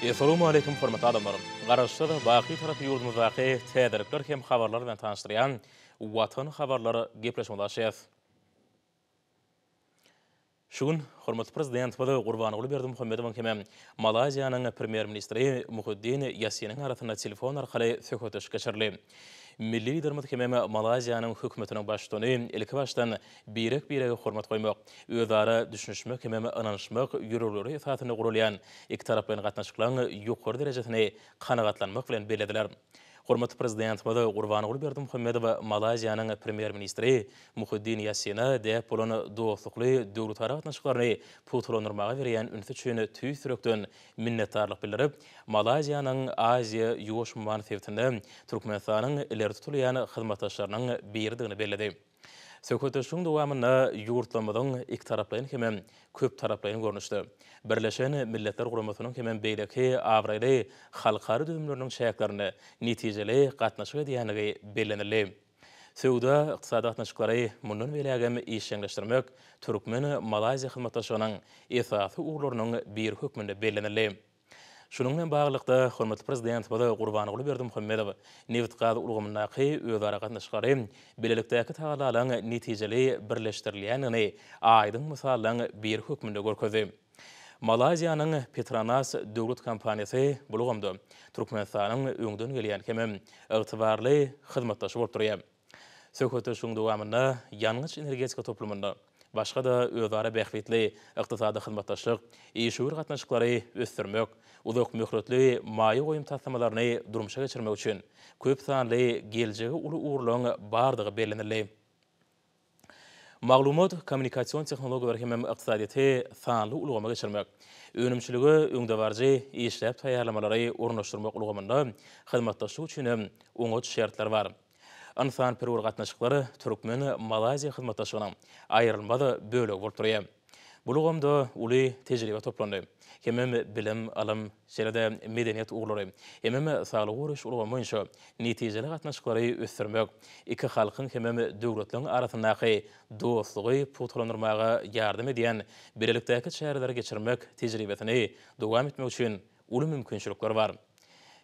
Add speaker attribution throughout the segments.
Speaker 1: Essalamualeýkum hormatly adamlarym! Garaşsyz, baky tarapy ýurdumyzdaky täzelikler hem habarlar bilen tanyşdyrýan Watan habarlar gepleşigimizi açýas. Şu gün hormatly Prezidentimiz Gurbanguly Berdimuhamedowyň hem Malaýziýanyň Premýer ministri Muhiddin Ýassiniň arasynda telefon arkaly söhbetdeşlik geçirildi. Milli Liderimiz hem Malaýziýanyň Hökümetiniň Baştutany ilkibaşdan birek-birege hormat goýmak, özara düşünişmek hemem ynanyşmak ýörelgeleri esasynda guralýan ikitaraplaýyn gatnaşyklaryň ýokary derejesini kanagatlanmak bilen bellediler. Hormatly Prezidentimiz Gurbanguly Berdimuhamedow Malaýziýanyň Premýer-ministri Muhiddin Ýassina däp bolan dostlukly döwletara gatnaşyklaryny pugtalandyrmaga berýän ünsi üçin tüýs ýürekden minnetdarlyk bildirip, Malaýziýanyň Aziýa, Ýuwaş umman sebitinde Türkmenistanyň ileri tutulýan hyzmatdaşlarynyň biridigini belledi. Söhbetdeşligiň dowamynda ýurtlarymyzyň ikitaraplaýyn hemem köptaraplaýyn görnüşde, Birleşen Milletler Guramasynyň hemem beýleki abraýly halkara düzümleriniň çäklerinde netijeli gatnaşyk edýändigi bellenildi. Söwda, ykdysady gatnaşyklary mundan beýlägem işjeňleşdirmek türkmen-malaýziýa hyzmatdaşlygynyň esasy ugurlarynyň biri hökmünde bellenildi. Şunuň bilen baglylykda, hormatly Prezidentimiz Gurbanguly Berdimuhamedow nebit-gaz ulgamyndaky özara gatnaşyklary bilelikdäki tagallalaryň netijeli birleşdirilýändigini aýdyň mysallaryň biri hökmünde görkezdi. Malaýziýanyň Petronas döwlet kompaniýasy bu ulgamda Türkmenistanyň öňden gelýän hemem ygtybarly hyzmatdaşy bolup durýar. Söhbetdeşligiň dowamynda ýangyç-energetika toplumynda, başga-da özara bähbitli ykdysady hyzmatdaşlyk, işewür gatnaşyklary ösdürmek, uzak möhletli maýa goýum taslamalaryny durmuşa geçirmek üçin köp sanly geljegi uly ugurlaryň bardygy bellenildi. maglumat-kommunikasion tehnologiýalary hemem ykdysadyýeti sanly ulgama geçirmek, önümçilige öňdebaryjy işläp taýýarlamalary ornaşdyrmak ulgamynda hyzmatdaşlyk üçin hem oňat şertler bar. Ynsanperwer gatnaşyklar türkmen-malaýziýa hyzmatdaşlygynyň aýrylmaz bölegi bolup durýar. Bu ulgamda uly tejribe toplandy. Hemem bilim, ylym, şeýle-de medeniýet ugurlary, hemem saglygy goraýyş ulgamy boýunça netijeli gatnaşyklary ösdürmek, iki halkyň hemem döwletleriň arasyndaky dostlugy pugtalandyrmaga ýardam edýän bilelikdäki çäreleri geçirmek tejribesini dowam etmek üçin uly mümkinçilikler bar.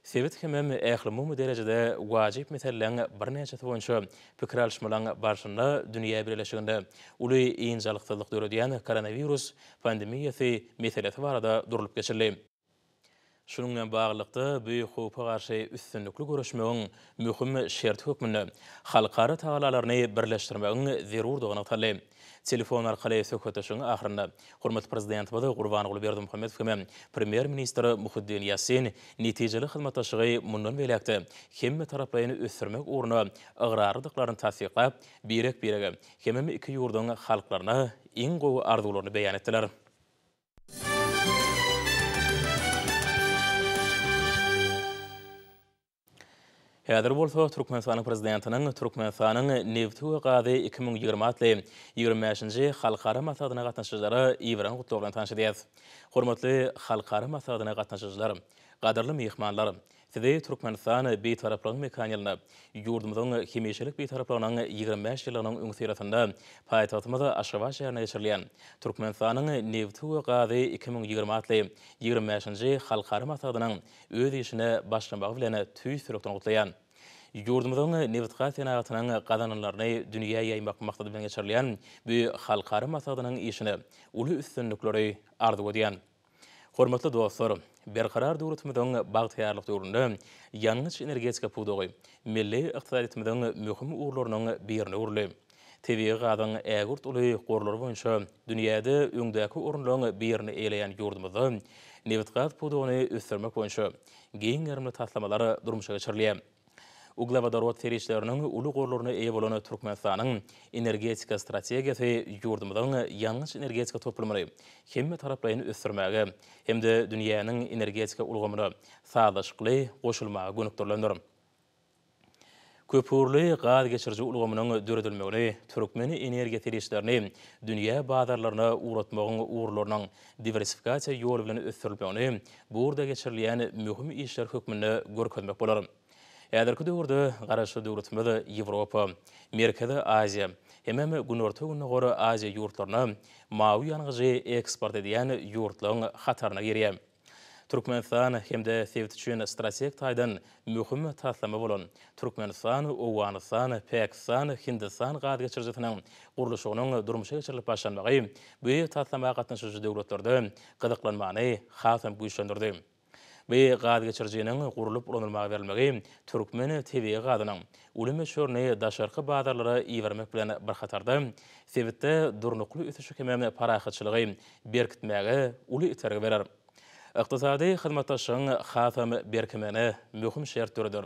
Speaker 1: Sebit hemem ählumumy derejede wajyp meseleleriň birnäçesi boýunça pikir alyşmalaryň barşynda dünýä bileleşiginde uly ynjalyksyzlyk döredýän koronawirus pandemiýasy meselesi barada durlup geçildi. Şunuň bilen baglylykda, Büýük howpa garşy üstünlikli göreşmegiň möhüm şerti hökmünde halkara tagallalaryny birleşdirmegiň zerurdygy nygtaldy. Telefon arkaly söhbetdeşligiň ahyrynda hormatly Prezidentimiz Gurbanguly Berdimuhamedow hem-ä Premýer-ministr Muhiddin Ýassin netijeli hyzmatdaşlygy mundan beýläk-de hemmetaraplaýyn ösdürmek ugruna ygrarlydyklaryny tassyklap, birek-birege hemem iki ýurduň halklaryna iň gowy arzuwlaryny beýan etdiler. Häzir bolsa Türkmenistanyň Prezidentiniň Türkmenistanyň nebti we gazy iki müň ýigrimi atly ýigrimi bäşinji halkara maslahatyna gatnaşyjylara iberen gutlagy bilen tanyş edýäs. Hormatly halkara maslahatyna gatnaşyjylar, gadyrly myhmanlar! Sizi Türkmenistan Bitaraplygyň mekan ýylynda, ýurdumyzyň hemişelik Bitaraplygynyň ýigrimi bäş ýyllygynyň öňüsyrasynda paýtagtymyz Aşgabat şäherinde geçirilýän Türkmenistanyň nebti we gazy iki müň ýigrimi atly ýigrimi bäşinji halkara maslahatynyň öz işine başlamagy bilen tüýs ýürekden gutlaýan. Ýurdumyzyň nebitgaz senagatynyň gazananlaryny dünýä ýaýmak maksady bilen geçirilýän bu halkara maslahatynyň işine uly üstünlikleri arzuw edýän. Hormatly dostlar, Berkarar döwletimiziň bagtyýarlyk döwründe ýangyç-energetika pudagy milli ykdysadyýetimiziň möhüm ugurlarynyň birine öwrüldi. Tebigy gazyň ägirt uly gorlary boýunça dünýäde öňdäki orunlaryň birini eýeleýän ýurdumyzda nebitgaz pudagyny ösdürmek boýunça giň gerimli taslamalar durmuşa geçirilýär. Uglewodorod serişdeleriniň uly gorlaryna eýe bolan Türkmenistanyň energetika strategiýasy ýurdumyzyň ýangyç-energetika toplumyny hemmetaraplaýyn ösdürmäge hem-de dünýäniň energetika ulgamyna sazlaşykly goşulmaga gönükdirilendir. Köpugurly gaz geçiriji ulgamynyň döredilmegini türkmen energiýa serişdelerini dünýä bazarlaryna ugratmagyň ugurlarynyň diwersifikasiýa ýoly bilen ösdürilmegini bu ugurda geçirilýän möhüm işler hökmünde görkezmek bolar. Häzirki döwürde Garaşsyz döwletimiz Ýewropa, Merkezi Aziýa hemem Günorta-Gündogar Aziýa ýurtlaryna mawy ýangyjy eksport edýän ýurtlaryň hataryna girýär. Türkmenistan hem-de sebit üçin strategik taýdan möhüm taslama bolan Türkmenistan, Owganystan, Pakistan, Hindistan gaz geçirijisiniň gurluşygynyň durmuşa geçirilip başlanmagy bu taslama gatnaşyjy döwletlerde gyzyklanmany hasam güýçlendirdi. Bu gaz geçirijiniň gurlup ulanylmaga berilmegi türkmen tebigy gazynyň uly möçberini daşarky bazarlara ibermek bilen bir hatarda, sebitde durnukly ösüşi hem-de parahatçylygy berkitmäge uly itergi berer. Ykdysady hyzmatdaşlygyň hasam berkemegine möhüm şert döreder.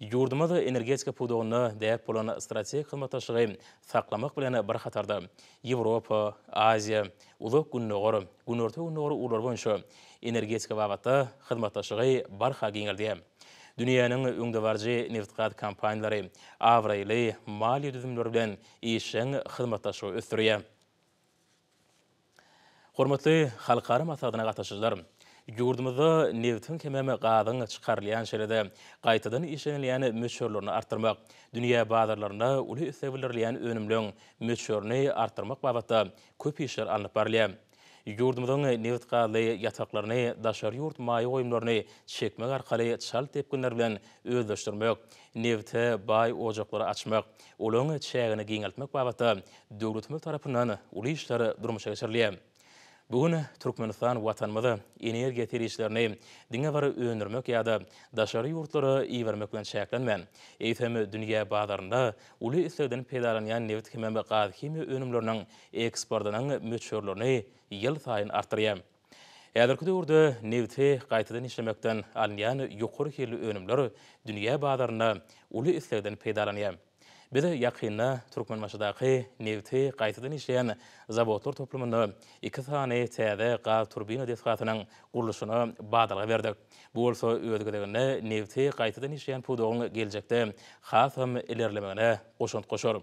Speaker 1: Ýurdumyz energetika pudagynda däp bolan strategik hyzmatdaşlygy saklamak bilen bir hatarda, Ýewropa, Aziýa, Uzak Gündogar, Günorta-Gündogar ugurlary boýunça energetika babatda hyzmatdaşlygy barha giňeldýär. Dünýäniň öňdebaryjy nebitgaz kompaniýalary abraýly maliýe düzümleri bilen işjeň hyzmatdaşlygy ösdürýär. Hormatly halkara maslahatyna gatnaşyjylar! Ýurdumyzda nebitiň hemem gazyň çykarylýan şeýle-de gaýtadan işlenilýän möçberlerini artdyrmak, dünýä bazarlarynda uly isleg bildirilýän önümleriň möçberini artdyrmak babatda köp işler alnyp barylýar. Ýurdumyzyň nebit-gazly ýataklaryny daşary ýurt maýa goýumlaryny çekmek arkaly çalt depginler bilen özleşdirmek, nebite baý ojaklary açmak, olaryň çägini giňeltmek babatda döwletimiz tarapyndan uly işler durmuşa geçirilýär. Bu gün Türkmenistan Watanymyz energiýa serişdelerini diňe bir öndürmek ýa-da daşary ýurtlara ibermek bilen çäklenmän, eýsem, dünýä bazarynda uly islegden peýdalanýan nebit hemem gazhimiýa önümleriniň eksportynyň möçberlerini ýylsaýyn artdyrýar. Häzirki döwürde nebti gaýtadan işlemekden alynýan ýokary hilli önümler dünýä bazarynda uly islegden peýdalanýar. Biz ýakynda Türkmenbaşydaky nebti gaýtadan işleýän zawodlar toplumynda iki sany täze gaz turbina desgasynyň gurluşyna badalga berdik. Bu bolsa öz gezeginde nebti gaýtadan işleýän pudagyň geljekde hasam ilerlemegine goşant goşar.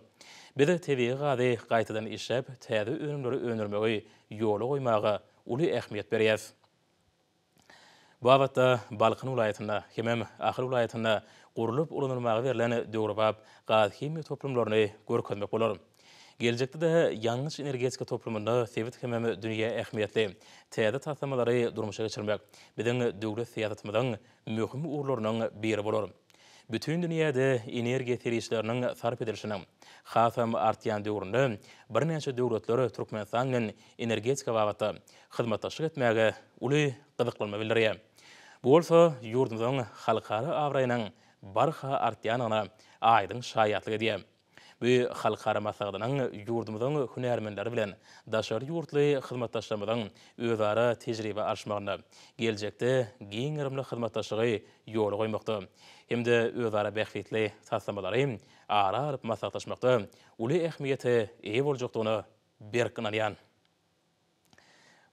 Speaker 1: Biz tebigy gazy gaýtadan işläp, täze önümleri öndürmegi ýola goýmaga uly ähmiýet berýäs. Bu babatda Balkan welaýatynda, hemem Ahal welaýatynda gurlup ulanylmaga berlen döwrebap gazhimiýa toplumlaryny görkezmek bolar. Geljekde-de ýangyç-energetika toplumynda sebit hemem dünýä ähmiýetli täze taslamalary durmuşa geçirmek biziň döwlet syýasatymyzyň möhüm ugurlarynyň biri bolar. Bütin dünýäde energiýa serişdeleriniň sarp edilişiniň hasam artýan döwründe birnäçe döwletler Türkmenistan bilen energetika babatda hyzmatdaşlyk etmäge uly gyzyklanma bildirýär. Bu bolsa ýurdumyzyň halkara abraýynyň barha artýandygyna aýdyň şaýatlyk edýär. Bu halkara maslahatynyň ýurdumyzyň hünärmenleri bilen daşary ýurtly hyzmatdaşlarymyzyň özara tejribe alyşmagynda, geljekde giň gerimli hyzmatdaşlygy ýola goýmakda hem-de özara bähbitli taslamalary ara alyp maslahatlaşmakda uly ähmiýete eýe boljakdygyna berk ynanýan.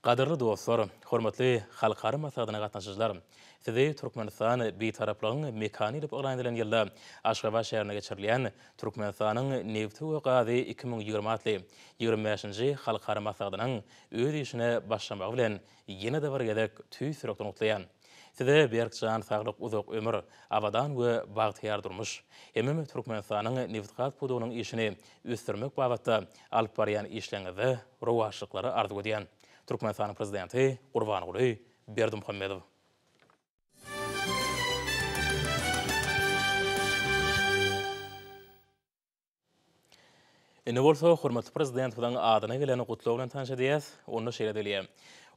Speaker 1: Gadyrly dostlar, hormatly halkara maslahatyna gatnaşyjylar! Sizi Türkmenistan Bitaraplygyň mekany edip yglan edilen ýylda Aşgabat şäherinde geçirilýän Türkmenistanyň nebti we gazy iki müň ýigrimi atly ýigrimi bäşinji halkara maslahatynyň öz işine başlamagy bilen ýene-de bir gezek tüýs ýürekden gutlaýan. Size berk jan saglyk uzak ömür, abadan we bagtyýar durmuş. Hemem Türkmenistanyň nebit-gaz pudagynyň işini ösdürmek babatda alyp barýan işleriňizde rowaçlyklary arzuw edýän. Türkmenistanyň Prezidenti Gurbanguly Berdimuhamedow. Indi bolsa hormatly Prezidentimiziň adyna gelen gutlag bilen tanyş edýäs. Onda şeýle diýilýär,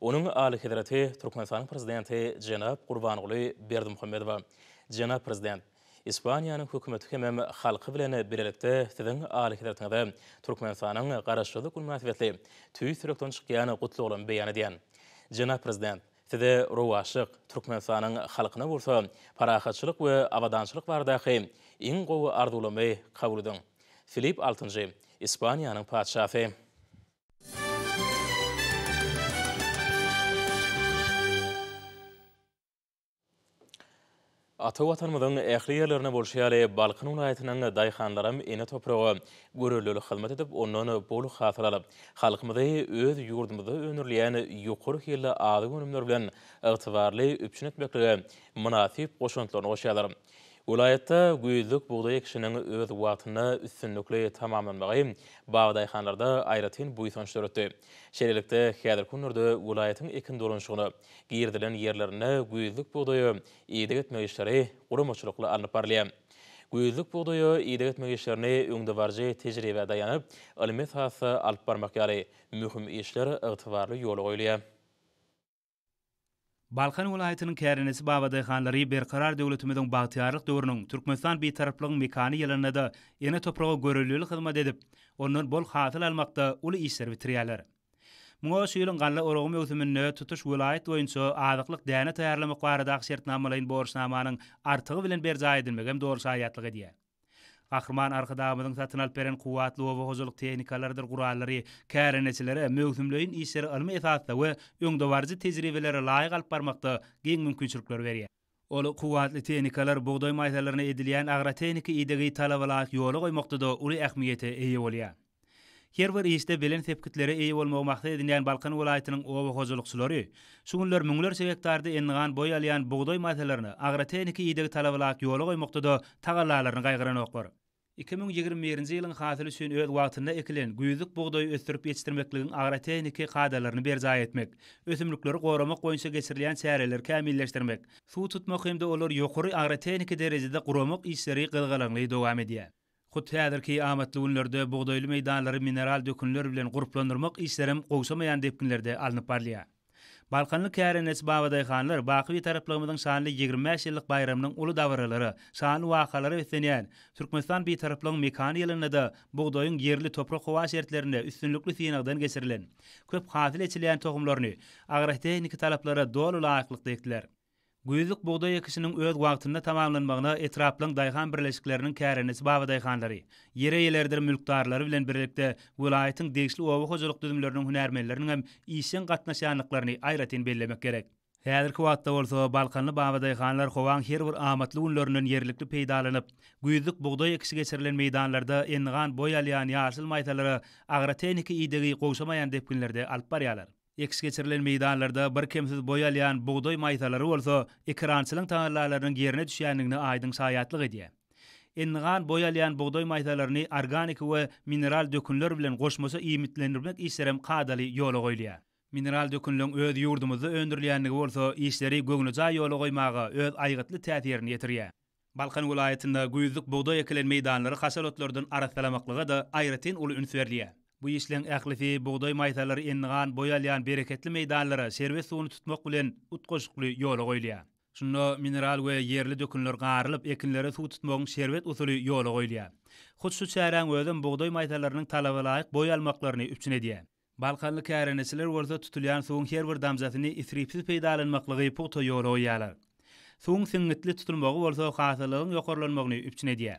Speaker 1: Onuň Alyhezreti Türkmenistanyň Prezidenti jenap Gurbanguly Berdimuhamedowa, Jenap Prezident, Ispaniýanyň Hökümeti hemem halky bilen bilelikde Siziň Alyhezretiňize Türkmenistanyň Garaşsyzlyk güni mynasybetli tüýs ýürekden çykýan gutlaglamy beýan edýän. Jenap Prezident, Size rowaçlyk, Türkmenistanyň halkyna bolsa parahatçylyk we abadançylyk baradaky iň gowy arzuwlamy kabul ediň. Filip altynjy, Ispaniýanyň patyşasy. Ata Watanymyzyň ähli ýerlerinde bolşy ýaly, Balkan welaýatynyň daýhanlaram ene topraga görelde hyzmat edip, ondan bol hasyl alyp, halkymyzy öz ýurdumyzda öndürilýän ýokary hilli azyk önümleri bilen ygtybarly üpjün etmeklige mynasyp goşantlaryny goşýarlar. Welaýatda güýzlük bugdaý ekişiniň öz wagtynda üstünlikli tamamlanmagy bagdaýhanlarda aýratyn buýsanç döretdi. Şeýlelikde, häzirki günlerde welaýatyň ekin dolanyşygyna, Girizilen ýerlerinde güýzlük bugdaýa ideg etmek işleri guramaçylykly alnyp barylýar. Güýzlük bugdaýa ideg etmek işlerini öňdebaryjy tejribä daýanyp, ylmy esasda alyp barmak ýaly möhüm işler ygtybarly ýola goýulýar.
Speaker 2: Balkan welaýatynyň kärendeçi babadaýhanlary Berkarar döwletimiziň bagtyýarlyk döwrüniň Türkmenistan Bitaraplygyň mekany ýylynda-da ene topraga görelilik hyzmat edip, ondan bol hasyl almakda uly işleri bitirýärler. Muňa şu ýylyň galla oragy möwsüminde tutuş welaýat boýunça azyklyk däne taýýarlamak baradaky şertnamalaýyn borçnamanyň artygy bilen berjaý edilmegi hem doly şaýatlyk edýär. Gahryman Arkadagymyzyň satyn alyp beren kuwwatly oba hojalyk tehnikalarydyr gurallary kärendeçilere möwsümleýin işleri ylmy esasda we öňdebaryjy tejribelere laýyk alyp barmakda giň mümkinçilikleri berýär. Ol kuwwatly tehnikalar bugdaý maýsalaryna edilýän agrotehniki idegi talabalaýyk ýola goýmakda-da uly ähmiýete eýe bolýar. Her bir işde belent sepgitlere eýe bolmagy maksat edinýän Balkan welaýatynyň oba hojalykçylary şu günler müňlerçe gektarda endigan boý alýan bugdaý maýsalaryny agrotehniki idegi talabalaýyk ýola goýmakda-da tagallalaryny gaýgyranoklar. Iki müň ýigrimi birinji ýylyň hasyly üçin öz wagtynda ekilen güýzlük bugdaýy ösdürip ýetişdirmekligiň agrotehniki kadalaryny berjaý etmek, ösümlikleri goramak boýunça geçirilýän çäreleri kämilleşdirmek, suw tutmak hem-de olary ýokary agrotehniki derejede guramak işleri gyzgalaňly dowam edýär. Hut häzirki amatly günlerde bugdaýly meýdanlary mineral dökünler bilen gurplandyrmak işlerem gowşamaýan depginlerde alnyp barylýar. Balkanly kärendeçi babadaýhanlar baky Bitaraplygymyzyň şanly ýigrimi bäş ýyllyk baýramynyň uly dabaralara, şanly wakalara beslenýän Türkmenistan Bitaraplygyň mekany ýylynda-da bugdaýyň ýerli toprak-howa şertlerinde üstünlikli synagdan geçirilen, köp hasyl eçilýän tohumlaryny agrotehniki talaplara doly laýyklykda ekdiler. Güýzlük bugdaý ekişiniň öz wagtynda tamamlanmagyna etraplaryň daýhan birleşikleriniň kärendeçi babadaýhanlary, ýer eýeleridir mülkdarlary bilen birlikde welaýatyň degişli oba hojalyk düzümleriniň hünärmenleriniň hem işjeň gatnaşýandyklaryny aýratyn bellemek gerek. Häzirki wagtda bolsa balkanly babadaýhanlar howaň her bir amatly günlerinden ýerlikli peýdalanyp, güýzlük bugdaý ekişi geçirilen meýdanlarda endigan boý alýan ýaşyl maýsalara agrotehniki idegi gowşamaýan depginlerde alyp barýarlar. Ekiş geçirilen meýdanlarda birkemsiz boý alýan bugdaý maýsalary bolsa ekerançylyň tagallalarynyň ýerine düşýändigine aýdyň şaýatlyk edýär. Endigan boý alýan bugdaý maýsalaryny organiki we mineral dökünler bilen goşmaça iýmitlendirmek işlerem kadaly ýola goýulýar. Mineral dökünleň öz ýurdumyzda öndürilýändigi bolsa işleri göwnejaý ýola goýmaga öz aýgytly täsirini ýetirýär. Balkan welaýatynda güýzlük bugdaý ekilen meýdanlary haşal otlardan arassalamaklyga-da aýratyn uly üns berilýär. Bu işleň ählisi bugdaý maýsalary endigan boý alýan bereketli meýdanlara şerbet suwuny tutmak bilen utgaşykly ýola goýulýar. Şunda mineral we ýerli dökünler garylyp, ekinlere suw tutmagyň şerbet usuly ýola goýulýar. Hut şu çäräň özem bugdaý maýsallarynyň talabalaýyk boý almaklaryny üpjün edýär. Balkanly kärendeçiler bolsa tutulýan suwuň her bir damjasyny isripsiz peýdalanmaklygy pugta ýola goýýarlar. Suwuň siňňitli tutulmagy bolsa hasyllygyň ýokarlanmagyny üpjün edýär.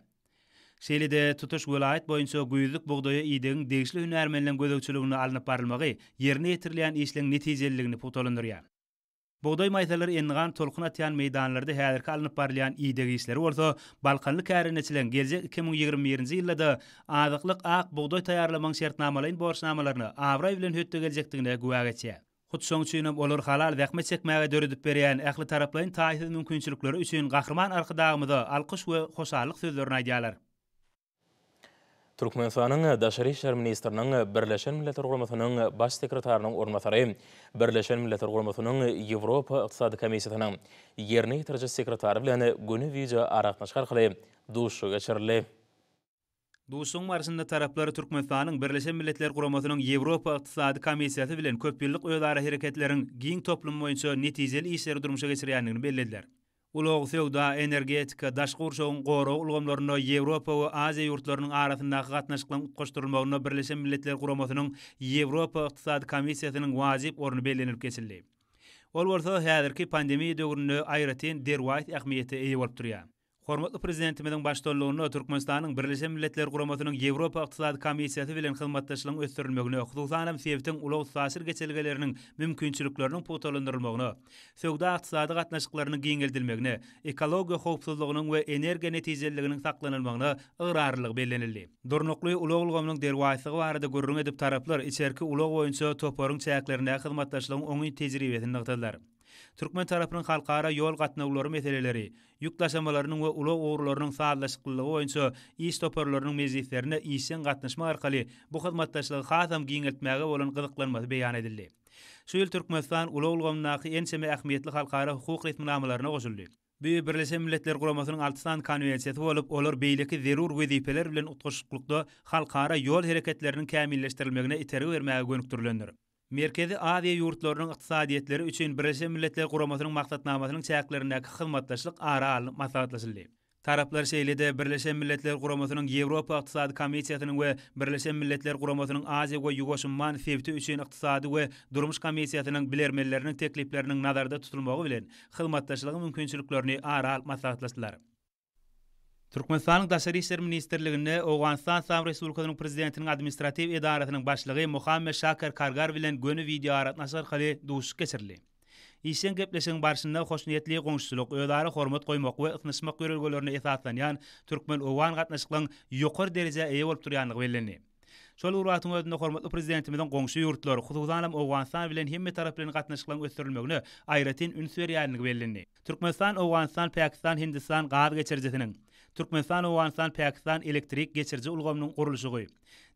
Speaker 2: Şeýle-de tutuş welaýat boýunça güýzlük bugdaýa idegiň degişli hünärmenleň gözegçiliginde alnyp barylmagy ýerine ýetirilýän işleň netijeliligini pugtalandyrýar. Bugdaý maýsalary endigan tolkun atýan meýdanlarda häzirki alnyp barylýan ideg işleri bolsa balkanly kärendeçileň geljek iki müň ýigrimi birinji ýylda-da azyklyk ak bugdaý taýýarlamagyň şertnamalaýyn borçnamalaryna abraý bilen hötde geljekdigine güwä geçýär. Hut şoň üçin hem olar halal zähmet çekmäge döredip berýän ählitaraplaýyn taýsyz mümkinçilikleri üçin Gahryman Arkadagymyza alkyş we hoşallyk sözlerini aýdýarlar. Türkmenistanyň
Speaker 1: Daşary işler ministriniň Birleşen Milletler Guramasynyň Baş sekretarynyň orunbasary, Birleşen Milletler Guramasynyň Ýewropa Ykdysady Komissiýasynyň Ýerine ýetiriji sekretary bilen göni wideo aragatnaşyk arkaly duşuşygy geçirildi.
Speaker 2: Duşuşygyň barşynda taraplar Türkmenistanyň Birleşen Milletler Guramasynyň Ýewropa Ykdysady Komissiýasy bilen köpýyllyk özarahereketleriň giň toplumy boýunça netijeli işleri durmuşa geçirýändigini bellediler. Ulag, söwda, energetika, daşky gurşawyň goragy ulgamlarynda Ýewropa we Aziýa ýurtlarynyň arasyndaky gatnaşyklaryň utgaşdyrylmagynda Birleşen Milletler Guramasynyň Ýewropa Ykdysady Komissiýasynyň wajyp orny bellenilip geçildi. Ol bolsa häzirki pandemiýa döwründe aýratyn derwaýys ähmiýete eýe bolup durýar. Hormatly Prezidentimiziň baştutanlygynda Türkmenistanyň Birleşen Milletler Guramasynyň Ýewropa Ykdysady Komissiýasy bilen hyzmatdaşlygyň ösdürilmegine, hususan hem sebitiň ulag-üstaşyr geçelgeleriniň mümkinçilikleriniň pugtalandyrylmagyna, söwda-ykdysady gatnaşyklarynyň giňeldilmegine, ekologiýa howpsuzlygynyň we energiýa netijeliliginiň saklanylmagyna ygrarlylygy bellenildi. Durnukly ulag ulgamynyň derwaýyslygy barada gürrüň edip, taraplar içerki ulag boýunça toparyň çäklerindäki hyzmatdaşlygyň oňyn tejribesini nygtadylar. Türkmen tarapynyň halkara ýol gatnawlary meseleleri, ýük daşamalarynyň we ulag ugurlarynyň sazlaşyklylygy boýunça iş toparlarynyň mejlislerine işjeň gatnaşmak arkaly bu hyzmatdaşlygy hasam giňeltmäge bolan gyzyklanmasy beýan edildi. Şu ýyl Türkmenistan ulag ulgamyndaky ençeme ähmiýetli halkara hukuk resminamalaryna goşuldy. Bu Birleşen Milletler Guramasynyň alty sany konwensiýasy bolup, olar beýleki zerur wezipeler bilen utgaşyklykda halkara ýol hereketleriniň kämilleşdirilmegine itergi bermäge gönükdirilendir. Merkezi Aziýa ýurtlarynyň ykdysadyýetleri üçin Birleşen Milletler Guramasynyň maksatnamasynyň çäklerindäki hyzmatdaşlyk ara alnyp maslahatlaşyldy. Taraplar şeýle-de Birleşen Milletler Guramasynyň Ýewropa Ykdysady Komissiýasynyň we Birleşen Milletler Guramasynyň Aziýa we Ýuwaş umman sebiti üçin Ykdysady we durmuş komissiýasynyň bilermenleriniň teklipleriniň nazarda tutulmagy bilen hyzmatdaşlygyň mümkinçiliklerini ara alyp maslahatlaşdylar. Türkmenistanyň Daşary işler ministrliginde Owganystan Yslam Respublikasynyň Prezidentiniň administratiw edarasynyň başlygy Mohammed Şaker Kargar bilen göni wideoaragatnaşyk arkaly duşuşyk geçirildi. Işjeň gepleşigiň barşynda hoşniýetli goňşuçylyk, özara hormat goýmak we ysnyşmak ýörelgelerine esaslanýan türkmen-owgan gatnaşyklaryň ýokary derejä eýe bolup durýandygy bellendi. Şol bir wagtyň özünde hormatly Prezidentimiziň goňşy ýurtlar, hususanam Owganystan bilen hemmetaraplaýyn gatnaşyklaryň ösdürilmegine aýratyn üns berýänligi bellendi. Türkmenistan, Owganystan, Pakistan, Hindistan gaz geçirijisiniň, Türkmenistan, Owganystan, Pakistan elektrik geçiriji ulgamynyň gurluşygy,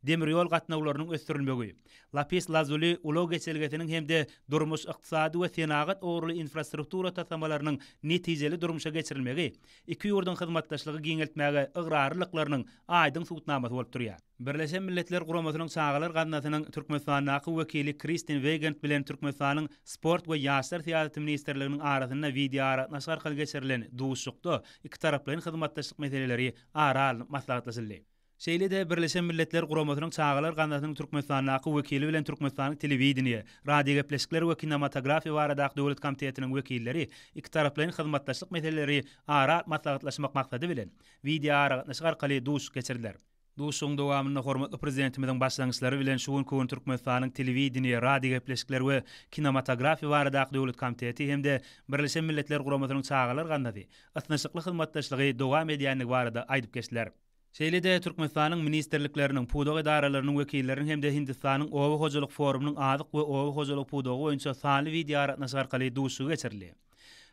Speaker 2: demir ýol gatnawlarynyň ösdürilmegi, Lapis Lazuli ulag geçelgesiniň hem-de durmuş-ykdysady we senagat ugurly infrastruktura taslamalarynyň netijeli durmuşa geçirilmegi iki ýurduň hyzmatdaşlygy giňeltmäge ygrarlylyklarynyň aýdyň subutnamasy bolup durýar. Birleşen Milletler Guramasynyň Çagalar gaznasynyň Türkmenistandaky wekili Kristin Weýgand bilen Türkmenistanyň Sport we ýaşlar syýasaty ministrliginiň arasynda wideoaragatnaşyk arkaly geçirilen duşuşykda ikitaraplaýyn hyzmatdaşlyk meseleleri ara alnyp maslahatlaşyldy. Şeýle-de Birleşen Milletler Guramasynyň Çagalar gaznasynyň Türkmenistandaky wekili bilen Türkmenistanyň Telewideniýe, radiogepleşikler we kinematografiýa baradaky döwlet komitetiniň wekilleri ikitaraplaýyn hyzmatdaşlyk meseleleri ara alp maslahatlaşmak maksady bilen wideoaragatnaşyk arkaly duşuşyk geçirdiler. Duşuşygyň dowamynda hormatly Prezidentimiziň başlangyçlary bilen şu günki gün Türkmenistanyň Telewideniýe, radiogepleşikler we kinematografiýa baradaky döwlet komiteti hem-de Birleşen Milletler Guramasynyň Çagalar gaznasy ysnyşykly hyzmatdaşlygy dowam edýändigi barada aýdyp geçdiler. Şeýle-de Türkmenistanyň ministrlikleriniň, pudak edaralarynyň wekilleriniň hem-de Hindistanyň Oba hojalyk forumynyň azyk we oba hojalygy pudagy boýunça sanly wideoaragatnaşyk arkaly duşuşygy geçirildi.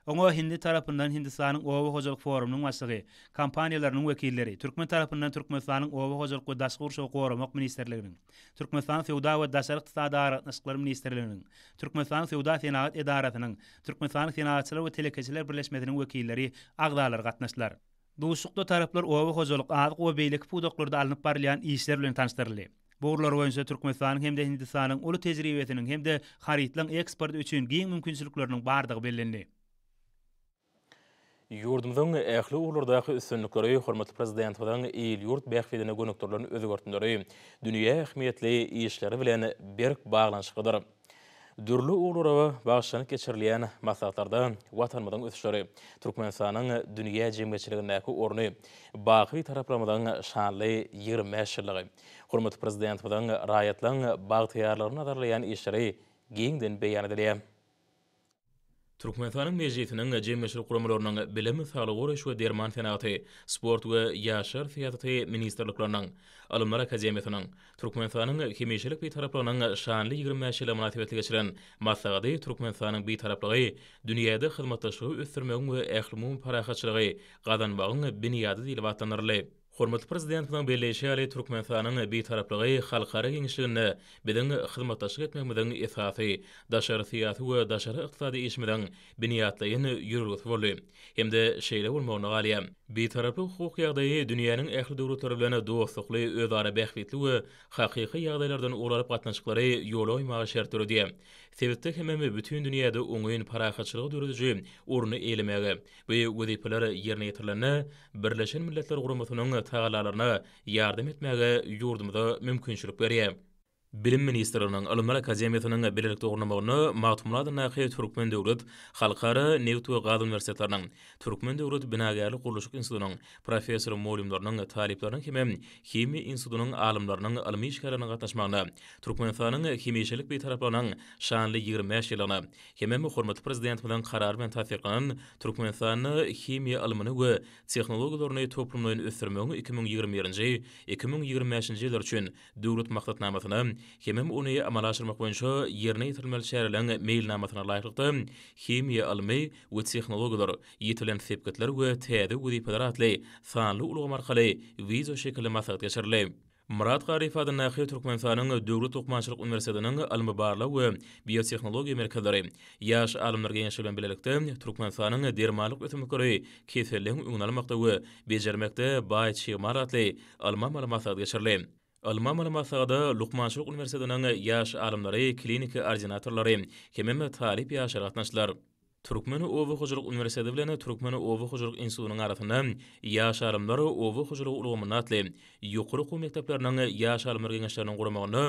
Speaker 2: Oňa hindi tarapyndan Hindistanyň Oba hojalyk forumynyň başlygy, kompaniýalarynyň wekilleri, türkmen tarapyndan Türkmenistanyň Oba hojalyk we daşky gurşawy goramak ministrliginiň, Türkmenistanyň Söwda we daşary ykdysady aragatnaşyklar ministrliginiň, Türkmenistanyň Söwda-senagat edarasynyň, Türkmenistanyň Senagatçylar we telekeçiler birleşmesiniň wekilleri, agzalary gatnaşdylar. Duşuşykda taraplar oba hojalyk, azyk we beýleki pudaklarda alnyp barylýan işler bilen tanyşdyryldy. Bu ugurlar boýunça Türkmenistanyň hem-de Hindistanyň uly tejribesiniň hem-de harytlaryň eksporty üçin giň mümkinçilikleriniň bardygy bellendi.
Speaker 1: Ýurdumyzyň ähli ugurlardaky üstünlikleri hormatly Prezidentimiziň il-ýurt bähbidine gönükdirilen özgertmeleri, dünýä ähmiýetli işleri bilen berk baglanyşyklydyr. Dürli ugurlara bagyşlanyp geçirilýän maslahatlarda Watanymyzyň ösüşleri, Türkmenistanyň dünýä jemgyýetçiligindäki orny, baky Bitaraplarymyzyň şanly ýigrimi bäş ýyllygy, hormatly Prezidentimiziň raýatlaryň bagtyýarlygyny nazarlaýan işleri giňden beýan edilýär. Türkmenistanyň Mejlisiniň jemleşik guramalarynyň Bilim, Saglygy goraýyş we derman senagaty, Sport we ýaşlar syýasaty ministrlikleriniň, Ylymlar akademiýasynyň, Türkmenistanyň Hemişelik Bitaraplygynyň şanly ýigrimi bäş ýyly mynasybetli geçiren maslahady Türkmenistanyň Bitaraplygy dünýäde hyzmatdaşlygy ösdürmegiň we ählumumy parahatçylygy gazanmagyň binýady diýlip atlandyryldy. Hormatly Prezidentimiziň belleýşi ýaly, Türkmenistanyň Bitaraplygy halkara giňişliginde biziň hyzmatdaşlyk etmegimiziň esasy, daşary syýasy we daşary ykdysady işimiziň binýatlaýyn ýörelgesi boldy hem-de şeýle bolmagyna galýar. Bitaraplyk hukuk ýagdaýy dünýäniň ähli döwletleri bilen dostlukly, özara bähbitli we hakyky ýagdaýlardan ugur alyp gatnaşyklary ýola goýmaga şert döredýär. Sebitde hemem bütin dünýäde oňyn parahatçylygy dörediji orny eýelemäge, Bu wezipeler ýerine ýetirilende, Birleşen Milletler Guramasynyň tagallalaryna ýardam etmäge ýurdumyza mümkinçilik berýär. Bilim ministrliginiň Ylymlar akademiýasynyň bilelikde gurnamagynda Magtymguly adyndaky Türkmen döwlet halkara nebit we gaz uniwersitetleriniň, Türkmen döwlet binagärlik-gurluşyk institutynyň professor-mugallymlarynyň, talyplarynyň hem-ä Himiýa institutynyň alymlarynyň, ylmy işgärleriniň gatnaşmagynda Türkmenistanyň hemişelik Bitaraplygynyň şanly ýigrimi bäş ýyllygyna Hemem hormatly Prezidentimiziň Karary bilen tassyklanan Türkmenistanda himiýa ylmyny we tehnologiýalaryny toplumlaýyn ösdürmegiň iki müň ýigrimi birinji, iki müň ýigrimi bäşinji ýyllar üçin Döwlet maksatnamasyna hemem ony amala aşyrmak boýunça ýerine ýetirilmeli çäreleriň meýilnamasyna laýyklykda Himiýa ylmy we tehnologiýalar, ýetilen sepgitler we täze wezipeler atly sanly ulgam arkaly wideoşekilli maslahat geçirildi. Myrat Garyp adyndaky Türkmenistanyň Döwlet lukmançylyk uniwersitetiniň Ylmy-barlag we biotehnologiýa merkezleri, Ýaş alymlar geňeşi bilen bilelikde Türkmenistanyň Dermanlyk ösümlikleri keselligiň öňüni almakda we bejermekde baý çig mal atly ylmy-amaly maslahat geçirildi. Ylmy-amaly maslahada Lukmançylyk uniwersitetiniň ýaş alymlary, kliniki ordinatorlary hemem talyp ýaşlar gatnaşdylar. Türkmen oba hojalyk uniwersiteti bilen Türkmen oba hojalyk institutynyň arasynda Ýaş alymlar oba hojalygy ulgamynda atly ýokary okuw mekdepleriniň Ýaş alymlar geňeşleriniň guramagynda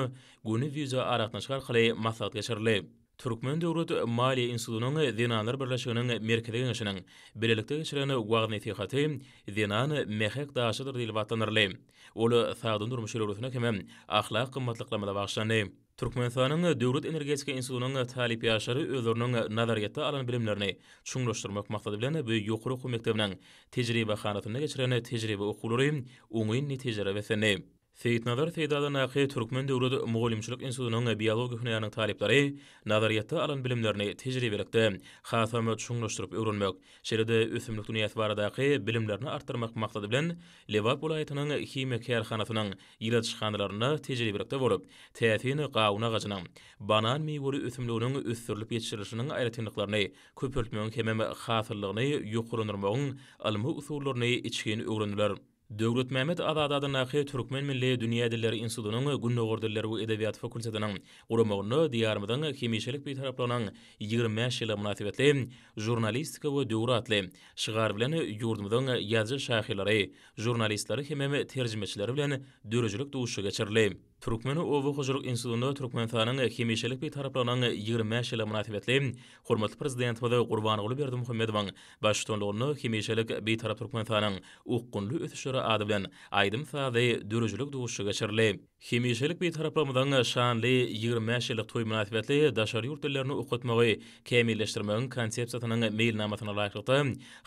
Speaker 1: göni wideoaragatnaşyk arkaly maslahat geçirildi. Türkmen döwlet maliýe institutynyň Zenanlar birleşiginiň Merkezi geňeşiniň bilelikde geçiren wagyz-nesihaty Zenan, mähek daşydyr diýlip atlandyryldy. Ol sagdyn durmuş ýörelgesine hem-ä ahlak gymmatlyklamada bagyşlandy. Türkmenistanyň Döwlet energetika institutynyň talyp ýaşlary özleriniň nazaryýetde alan bilimlerini çuňlaşdyrmak maksady bilen bu ýokary okuw mekdebiniň tejribehanasynda geçiren tejribe okuwlary oňyn netijelere beslendi. Seýitnazar Seýdadyndaky Türkmen döwlet mugallymçylyk institutynyň biologiýa hünäriniň talyplary nazaryýetde alan bilimlerini tejribelikde hasam çuňlaşdyryp öwrenmek, şeýle-de ösümlik dünýäsi baradaky bilimlerini artdyrmak maksady bilen Lebap welaýatynyň himiýa kärhanasynyň ilaçhanalarynda tejribelikde bolup, täsin gawun agajynyň, banan miweli ösümliginiň ösdürilip ýetişirilişiniň aýratynlyklaryny köpeltmegiň hemem hasyllygyny ýokarlandyrmagyň ylmy usullaryny içgin öwrendiler. Döwletmämmet Azady adyndaky Türkmen milli dünýä dilleri institutynyň Gündogar dilleri we edebiýaty fakultetiniň guramagynda Diýarymyzyň hemişelik Bitaraplygynyň ýigrimi bäş ýyly mynasybetli Žurnalistika we döwür atly şygar bilen ýurdumyzyň ýazyjy-şahyrlary, žurnalistleri hemem terjimeçileri bilen döredijilik duşuşygy geçirildi. Türkmen oba hojalyk institutynda Türkmenistanyň hemişelik Bitaraplygynyň ýigrimi bäş ýyly mynasybetli hormatly Prezidentimiz Gurbanguly Berdimuhamedowyň baştutanlygynda Hemişelik Bitarap Türkmenistanyň okgunly ösüşleri ady bilen aýdym-sazly döredijilik duşuşygy geçirildi. Hemişelik Bitaraplygymyzyň şanly ýigrimi bäş ýyllyk toýy mynasybetli daşary ýurt dillerini okatmagy kämilleşdirmegiň Konsepsiýasynyň meýilnamasyna laýyklykda,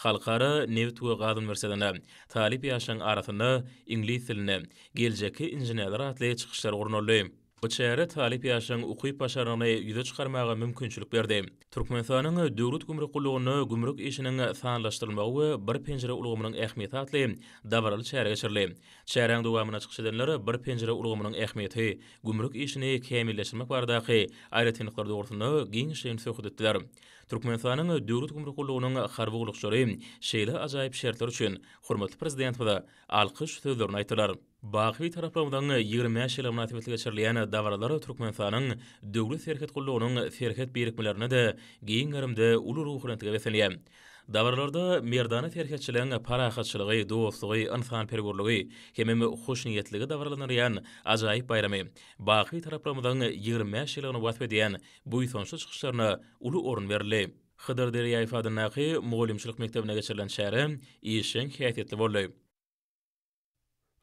Speaker 1: Halkara nebit we gaz uniwersitetinde talyp ýaşlaryň arasynda Iňlis dilinde, Geljekki inženerler atly çykyşlar gurnaldy. Bu çäre talyp ýaşlaryň ukyp-başarnygyny ýüze çykarmaga mümkinçilik berdi. Türkmenistanyň Döwlet gümrük gullugynda gümrük işiniň sanlaşdyrylmagy we Bir penjire ulgamynyň ähmiýeti atly dabaraly çäre geçirildi. Çäräň dowamynda çykyş edenler Bir penjire ulgamynyň ähmiýeti, gümrük işini kämilleşdirmek baradaky aýratynlyklary dogrusynda giňişleýin söhbet etdiler. Türkmenistanyň Döwlet gümrük gullugynyň harby gullukçylary şeýle ajaýyp şertler üçin hormatly Prezidentimize alkyş sözlerini aýtdylar. Baky Bitaraplygyň ýigrimi bäş ýyly mynasybetli geçirilýän dabaralar Türkmenistanyň Döwlet serhet gullugynyň serhet birikmelerinde-de giň gerimde uly ruhubelentlige beslenýär. Dabaralarda merdana serhetçiligiň parahatçylygy, dostlugy, ynsanperwerligi hemem hoşniýetligi dabaralandyrýan ajaýyp baýramy Baky Bitaraplygymyzyň ýigrimi bäş ýyllygyny wasp edýän buýsançly çykyşlaryna uly orun berildi. Hydyr Derýaýew adyndaky mugallymçylyk mekdebinde geçirilen çäre işjeň häsiýetli boldy.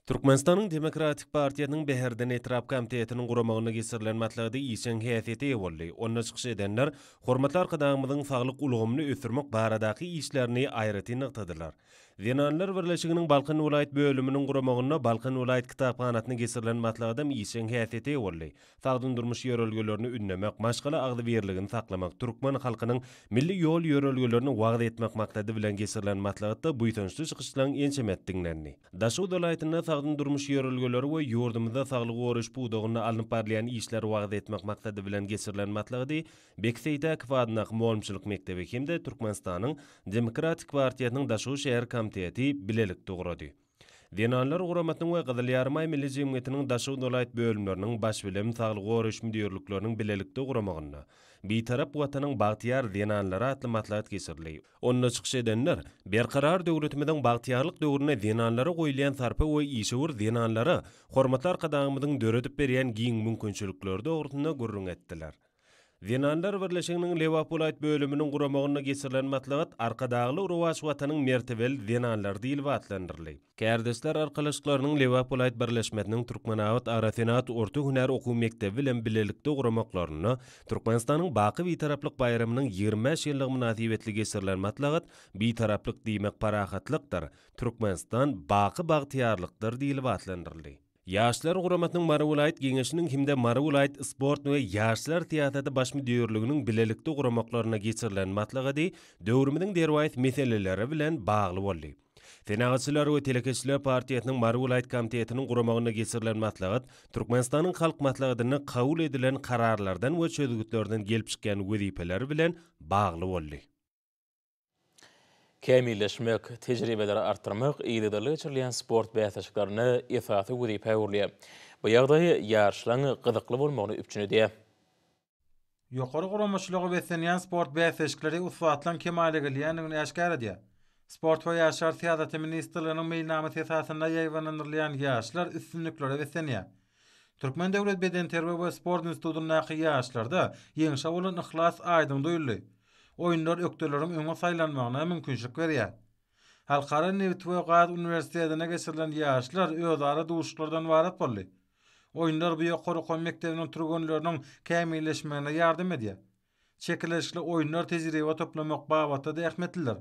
Speaker 3: Türkmenistanyň Demokratik partiýasynyň Bäherden etrap komitetiniň guramagynda geçirilen maslahaty işjeň häsiýete eýe boldy. Onda çykyş edenler hormatly Arkadagymyzyň saglyk ulgamyny ösdürmek baradaky işlerini aýratyn nygtadylar. Zenanlar birleşiginiň Balkan welaýat bölüminiň guramagynda Balkan welaýat kitaphanasyny geçirilen maslahatam işjeň häsiýete eýe boldy. Sagdyn durmuş ýörelgelerini ündemek, maşgala agzybirligini saklamak, türkmen halkynyň milli ýol-ýörelgelerini wagyz etmek maksady bilen geçirilen maslahatda buýsançly çykyşlaryň ençemesi diňlendi. Daşoguz welaýatynda sagdyn durmuş ýörelgeleri we ýurdumyzda saglygy goraýyş pudagynda alnyp barylýan işleri wagyz etmek maksady bilen geçirilen maslahady Beki Seýtäkow adyndaky mugallymçylyk mekdebi hem-de Türkmenistanyň Demokratik partiýasynyň Daşoguz şäher komiteti bilelikde gurady. Zenanlar guramasynyň we Gyzyl Ýarymaý Milli jemgyýetiniň Daşoguz welaýat bölümleriniň baş bilim saglygy goraýyş müdirlikleriniň bilelikde guramagynda Bitarap Watanyň bagtyýar zenanlary atly maslahat geçirildi. Onda çykyş edenler Berkarar döwletimiziň bagtyýarlyk döwründe zenanlara goýulýan sarpa we işewür zenanlara hormatly Arkadagymyzyň döredip berýän giň mümkinçilikleri dogrusynda gürrüň etdiler. Zenanlar birleşiginiň Lebap welaýat bölüminiň guramagynda geçirilen maslahat Arkadagly rowaç watanyň mertebeli zenanlary diýlip atlandyryldy. Kärdeşler arkalaşyklarynyň Lebap welaýat birleşmesiniň Türkmenabat agrosenagat orta hünär okuw mekdebi bilen bilelikde guramaklarynda Türkmenistanyň Baky Bitaraplyk baýramynyň ýigrimi bäş ýyllygy mynasybetli geçirilen maslahat Bitaraplyk diýmek parahatlykdyr, Türkmenistan, baky bagtyýarlykdyr diýlip atlandyryldy. Ýaşlar guramasynyň Mary welaýat Geňeşiniň hem-de Mary welaýat Sport we ýaşlar syýasaty baş müdirliginiň bilelikde guramaklarynda geçirilen maslahady döwrümiziň derwaýys meseleleri bilen bagly boldy. Senagatçylar we telekeçiler partiýasynyň Mary welaýat komitetiniň guramagynda geçirilen maslahat Türkmenistanyň Halk Maslahatynda kabul edilen kararlardan we çözgütlerden gelip çykýan wezipeler bilen bagly boldy.
Speaker 1: kämilleşmek, tejribeleri artdyrmak yzygiderli geçirilýän sport bäsleşiklerinde esasy wezipä öwrülýär. Bu ýagdaý ýaryşlaryň gyzykly bolmagyny üpjün edýär.
Speaker 4: Ýokary guramaçylyga beslenýän sport bäsleşikleri ussatlygyň kemala gelýändigini äşgär edýär. Sport we ýaşlar syýasaty ministrliginiň meýilnamasy esasynda ýaýbaňlandyrylýan ýaryşlar üstünliklere beslenýär. Türkmen döwlet bedenterbiýe we sport institutyndaky ýaşlarda ýeňşe bolan yhlas aýdyň duýuldy. Oýunlar ökdeleriň öňe saýlanmagyna mümkinçilik berýär. Halkara nebit we gaz uniwersitetinde geçirilen ýaşlar özara duşuşyklardan ybarat boldy. Oýunlar bu ýokary okuw mekdebiniň türgenleriniň kämilleşmegine ýardam edýär. Çekeleşikli oýunlar tejribe toplamak babatda zähmetlidir.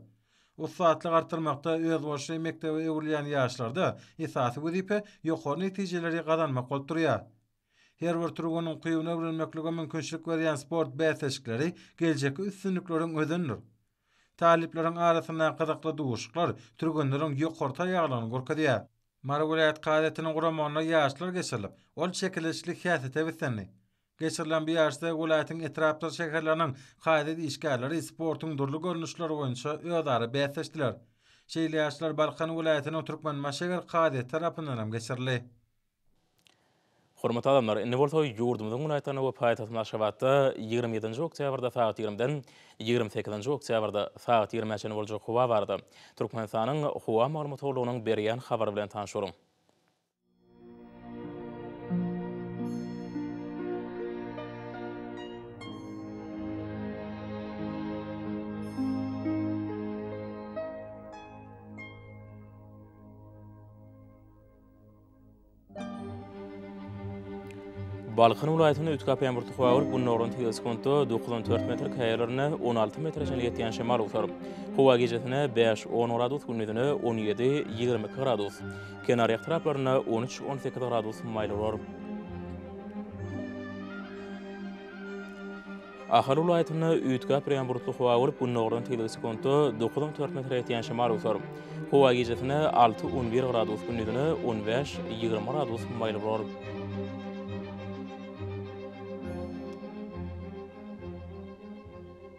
Speaker 4: Ussatlyk artdyrmakda özboluşly mekdebe öwrülýän ýaşlarda esasy wezipe ýokary netijeleri gazanmak bolup durýar. Her bir türgün ukybyny öwrenmeklige mümkinçilik berýän sport bäsleşikleri geljekki üstünlikleriň özenidir. Talyplaryň arasyndaky gyzykly duşuşyklar türgenleriň ýokary taýýarlygyny görkezýär. Mary welaýat kazyýetiniň guramagynda ýaşlar geçirilip, ol çekeleşikli häsiýete beslendi. Geçirilen bu ýaryşda welaýatyň etrapdyr şäherleriniň kazyýet işgärleri sportuň dürli görnüşleri boýunça özara bäsleşdiler. Şeýle ýaryşlar Balkan welaýatynyň Türkmenbaş şäher kazyýeti tarapyndan hem geçirildi. Hormatly
Speaker 1: adamlar, indi bolsa ýurdumyzyň welaýatlarynda we paýtagtymyz Aşgabatda ýigrimi ýedinji oktýabrda sagat ýigrimiden ýigrimi sekizinji oktýabrda sagat ýigrimä çenli boljak howa barada Türkmenistanyň Howa maglumat gullugynyň berýän habary bilen tanyş boluň. Balkan welaýatynda üç kap ýaňbur tuha bolup, gündogaryň tegelsi konto dokuz on dört metr, käýerlerinde on alty metre çenli ýetýän şemal owsar. Howa gijasine bäş on gradus, gündizine on ýedi ýigrimi iki gradus. Kenar etraplarynda on üç, on sekiz gradus maýyl bolar. Ahal welaýatynda üýtgäp ýaňburtly howa bolup, gündogardan tizligi sekunta dokuz on dört metre ýetýän şemal öwser. Howa gijesine alty, on bir gradus, gündizine on bäş, ýigrimi gradus maýyl bolar.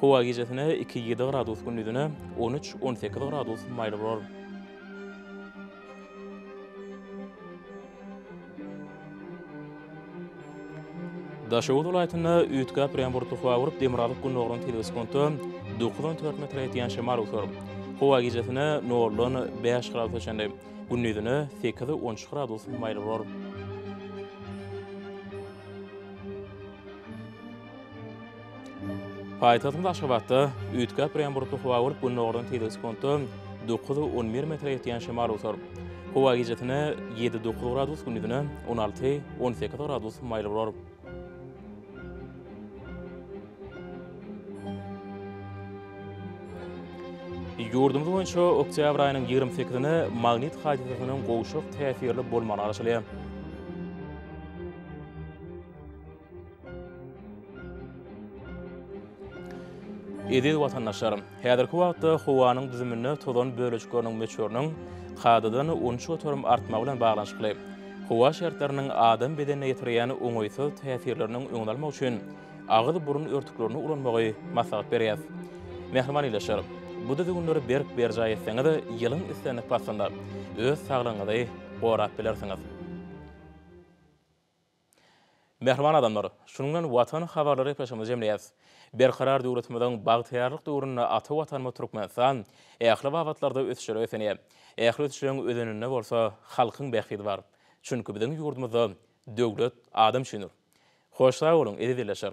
Speaker 1: Howa gijesine iki ýedi gradus gündizine on üç on sekiz gradus maýyl bolar. Daşoguz welaýatynda üýtgäp ýampurtly howa gurup, demirgazyk gündogaryň telbi sekunta dokuz on dört metre ýetýän şemal uçar. Howa gijesine noldan bäş gradusa çenli, gündizine sekiz on üç gradus maýyl bolar. Paýtagtymyz Aşgabatda üýtgäp ýagan bulutly howa bolup, gündogardan tizligi sekuntda dokuz, on bir metre ýetýän şemal otar. Howa gijesine ýedi, dokuz gradus, gündizine on alty, on sekiz gradus maýyl bolar. Ýurdumyz boýunça oktýabr aýynyň ýigrimi sekizine magnit hadysasynyň gowşak täsirli bolmagy garaşylýar. Eziz watandaşlar, häzirki wagtda howanyň düzüminde tozan bölejikleriniň möçberiniň kadadan onça göterim artmagy bilen baglanyşykly, howa şertleriniň adam bedenine ýetirýän oňaýsyz täsirleriniň öňüni almak üçin agyz-burun örtüklerini ulanmagy maslahat berýäs. Mähriban ildeşler, bu düzgünleri berk berjaý etseňiz, ýylyň islendik paslynda öz saglygyňyzy gorap bilersiňiz. Mähriban adamlar, şunuň bilen Watan habarlary gepleşigimizi jemleýäs. Berkarar döwletimiziň bagtyýarlyk döwründe ata Watanymyz Türkmenistan ähli babatlarda ösüşlere ösenýär. Ähli ösüşleriň özeninde bolsa halkyň bähbidi bar. Çünki biziň ýurdumyzda döwlet adam üçindir. Hoş sag boluň, eziz ildeşler!